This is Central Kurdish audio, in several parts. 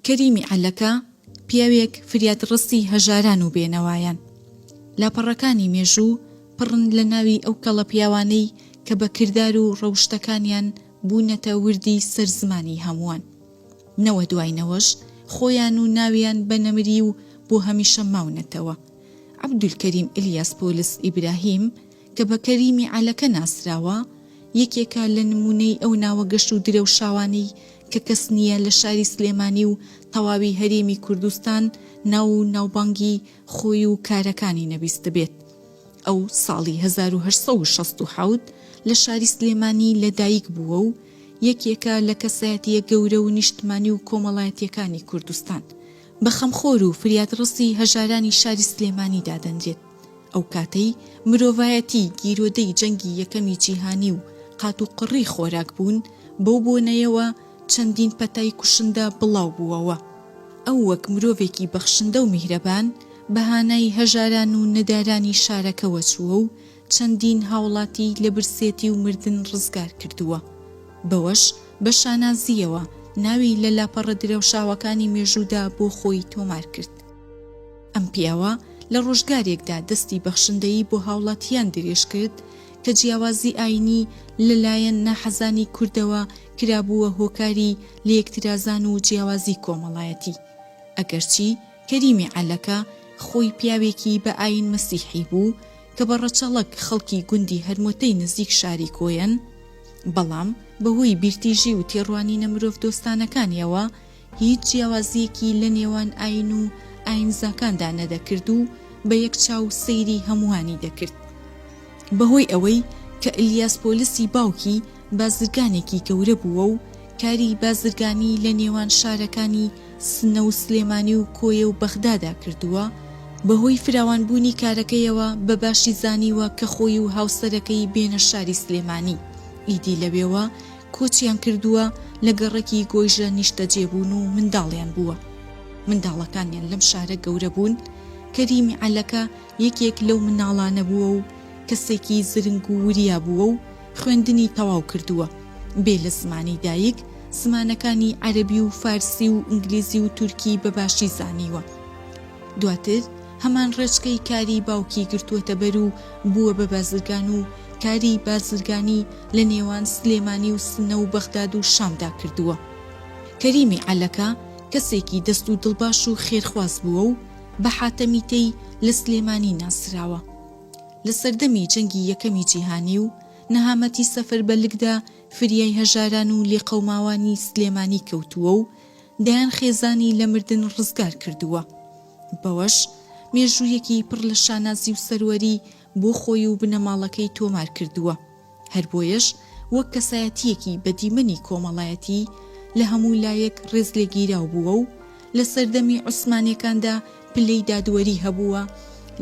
کەریمی عەلەکە، پیاوێک فریادڕەسی هەژاران و بێنەوایان. لاپەڕەکانی مێژوو پڕن لە ناوی ئەو کەڵەپیاوانەی کە بە کردار و ڕەوشتەکانیان بوونەتە وردی سەر زمانی هەمووان. نەوە دوای نەوەش خۆیان و ناویان بە نەمری و بۆ هەمیشە ماونەتەوە. عەبدولکەریم ئیلیاس پۆلس ئیبراهیم، کە بە کەریمی عەلەکە ناسراوە، یەکێکە لە نموونەی ئەو ناوە گەش و درەوشاوانەی کە کەس نییە لە شاری سلێمانی و تەواوی هەرێمی کوردستان ناو و ناوبانگی خۆی و کارەکانی نەبیستبێت. ئەو ساڵی هەزار و هەشت سەد و شەست و حەوت لە شاری سلێمانی لە دایک بووە و یەکێکە لە کەسایەتییە گەورە و نیشتمانی و کۆمەڵایەتییەکانی کوردستان. بە خەمخۆر و فریادڕەسی هەژارانی شاری سلێمانی دادەنرێت. ئەو کاتەی مرۆڤایەتی گیرۆدەی جەنگی یەکەمی جیهانی و قاتوقڕی خۆراک بوون، بەو بۆنەیەوە چەندین پەتای کوشندە بڵاو بووەوە. ئەو وەک مرۆڤێکی بەخشندە و میهرەبان بە هانای هەژاران و نەدارانی شارەکەوە چووە و چەندین هاوڵاتی لە برسێتی و مردن ڕزگار کردووە. بەوەش بە شانازییەوە ناوی لە لاپەڕە درەوشاوەکانی مێژوودا بۆ خۆی تۆمار کرد. ئەم پیاوە لە ڕۆژگارێکدا دەستی بەخشندەیی بۆ هاوڵاتییان درێژ کرد کە جیاوازی ئایینی لە لایەن ناحەزانی کوردەوە کرابووە هۆکاری لێکترازان و جیاوازی کۆمەڵایەتی. ئەگەرچی کەریمی عەلەکە خۆی پیاوێکی بە ئایین مەسیحی بوو کە بە ڕەچەڵەک خەڵکی گوندی هەرمۆتەی نزیک شاری کۆیەن، بەڵام بەهۆی بیرتیژی و تێڕوانینە مرۆڤدۆستانەکانییەوە، هیچ جیاوازییەکی لە نێوان ئایین و ئایینزاکاندا نەدەکرد و بە یەک چاو سەیری هەمووانی دەکرد. بە هۆی ئەوەی کە ئیلیاس پۆلسی باوکی بازرگانێکی گەورە بووە و کاری بازرگانی لە نێوان شارەکانی سنە و سلێمانی و کۆیە و بەغدادا کردووە، بە هۆی فراوانبوونی کارەکەیەوە بە باشی زانیوە کە خۆی و هاوسەرەکەی بێنە شاری سلێمانی، ئیدی لەوێوە کۆچیان کردووە، لە گەڕەکی گۆیژە نیشتەجێ بوون و منداڵیان بووە. منداڵەکانیان لەم شارە گەورە بوون. کەریمی عەلەکە یەکێک لەو منداڵانە بووە و کەسێکی زرنگ و وریا بووە و خوێندنی تەواو کردووە. بێ لە زمانی دایک، زمانەکانی عەرەبی و فارسی و ئینگلیزی و تورکی بە باشی زانیوە. دواتر هەمان ڕێچکەی کاری باوکی گرتووەتەبەر و بووە بە بازرگان و کاری بازرگانی لە نێوان سلێمانی و سنە و بەغداد و شامدا کردووە. کەریمی عەلەکە کەسێکی دەست و دڵباش و خێرخواز بووە و بە حاتەمی تەی لە سلێمانی ناسراوە. لە سەردەمی جەنگی یەکەمی جیهانی و نەهامەتی سەفەربەلکدا فریای هەژاران و لێقەوماوانی سلێمانی کەوتووە و دەیان خێزانی لە مردن ڕزگار کردووە، بەوەش مێژوویەکی پڕ لە شانازی و سەروەری بۆ خۆی و بنەماڵەکەی تۆمار کردووە، هەر بۆیەش وەک کەسایەتییەکی بە دیمەنی کۆمەڵایەتی لە هەموو لایەک ڕێزلێگیراو بووە و لە سەردەمی عوسمانییەکاندا پلەی دادوەری هەبووە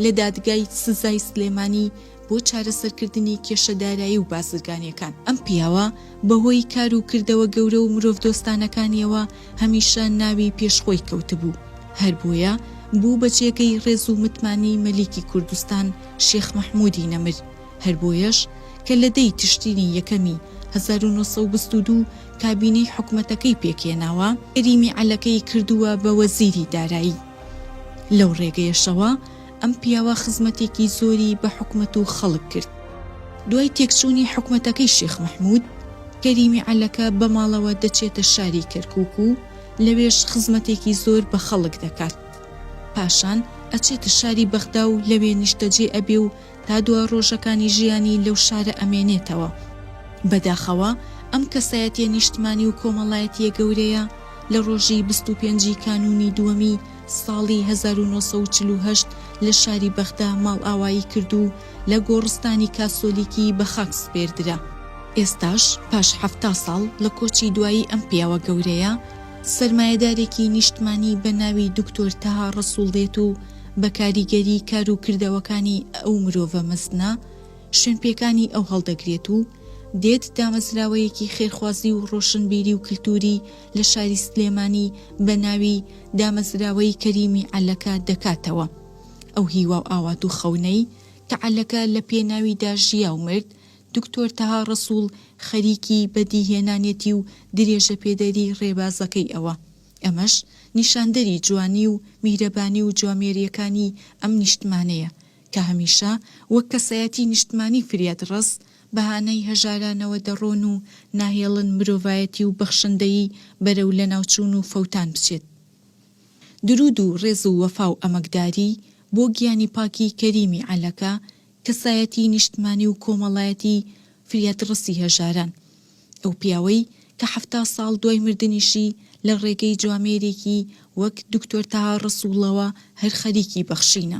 لە دادگای سزای سلێمانی بۆ چارەسەرکردنی کێشە دارایی و بازرگانیەکان. ئەم پیاوە بەهۆی کار و کردەوە گەورە و مرۆڤدۆستانەکانیەوە هەمیشە ناوی پێش خۆی کەوتبوو، هەر بۆیە بوو بە جێگەی ڕێز و متمانەی مەلیکی کوردستان شێخ مەحمودی نەمر، هەر بۆیەش کە لە دەی تشرینی یەکەمی هەزار و نۆ سەد و بیست و دوو کابینەی حکومەتەکەی پێکهێناوە، کەریمی عەلەکەی کردووە بە وەزیری دارایی. لەو ڕێگەیەشەوە ئەم پیاوە خزمەتێکی زۆری بە حکومەت و خەڵک کرد. دوای تێکچوونی حکومەتەکەی شێخ مەحموود، کەریمی عەلەکە بە ماڵەوە دەچێتە شاری کەرکووک و لەوێش خزمەتێکی زۆر بە خەڵک دەکات. پاشان ئەچێتە شاری بەغدا و لەوێ نیشتەجێ ئەبێ و تا دوا ڕۆژەکانی ژیانی لەو شارە ئەمێنێتەوە. بەداخەوە ئەم کەسایەتیە نیشتمانی و کۆمەڵایەتیە گەورەیە لە ڕۆژی بیست و پێنج ی کانوونی دووەمی ساڵی هەزار و نۆ سەد و چل و هەشت لە شاری بەغدا ماڵئاوایی کرد و لە گۆڕستانی کاسۆلیکی بە خاک سپێردرا. ئێستاش پاش حەفتا ساڵ لە کۆچی دوایی ئەم پیاوە گەورەیە، سەرمایەدارێکی نیشتمانی بە ناوی دکتۆر تەها ڕەسوڵ دێت و، بە کاریگەری کار و کردەوەکانی ئەو مرۆڤە مەزنە، شوێنپێکانی ئەو هەڵدەگرێت و دێت دامەزراوەیەکی خێرخوازی و ڕۆشنبیری و کلتوری لە شاری سلێمانی بە ناوی دامەزراوەی کەریمی عەلەکە دەکاتەوە. ئەو هیوا و ئاوات و خەونەی کە عەلەکە لە پێناویدا ژیا و مرد، دکتۆر تەها ڕەسوڵ خەریکی بەدیهێنانێتی و درێژەپێدەری ڕێبازەکەی ئەوە. ئەمەش نیشاندەری جوانی و میهرەبانی و جوامێرییەکانی ئەم نیشتمانەیە کە هەمیشە وەک کەسایەتی نیشتمانی فریادڕەس بەهانای هەژارانەوە دەڕۆن و ناهێڵن مرۆڤایەتی و بەخشندەیی بەرەو لەناوچوون و فەوتان بچێت. دروود و ڕێز و وەفا و ئەمەکداری بۆ گیانی پاکی کەریمی عەلەکە کەسایەتی نیشتمانی و کۆمەڵایەتی فریاد ڕەسی هەژاران، ئەو پیاوەی کە حەفتا ساڵ دوای مردنیشی لە ڕێگەی جوامێرێکی وەک دکتۆر تەها ڕەسووڵەوە هەر خەریکی بەخشینە.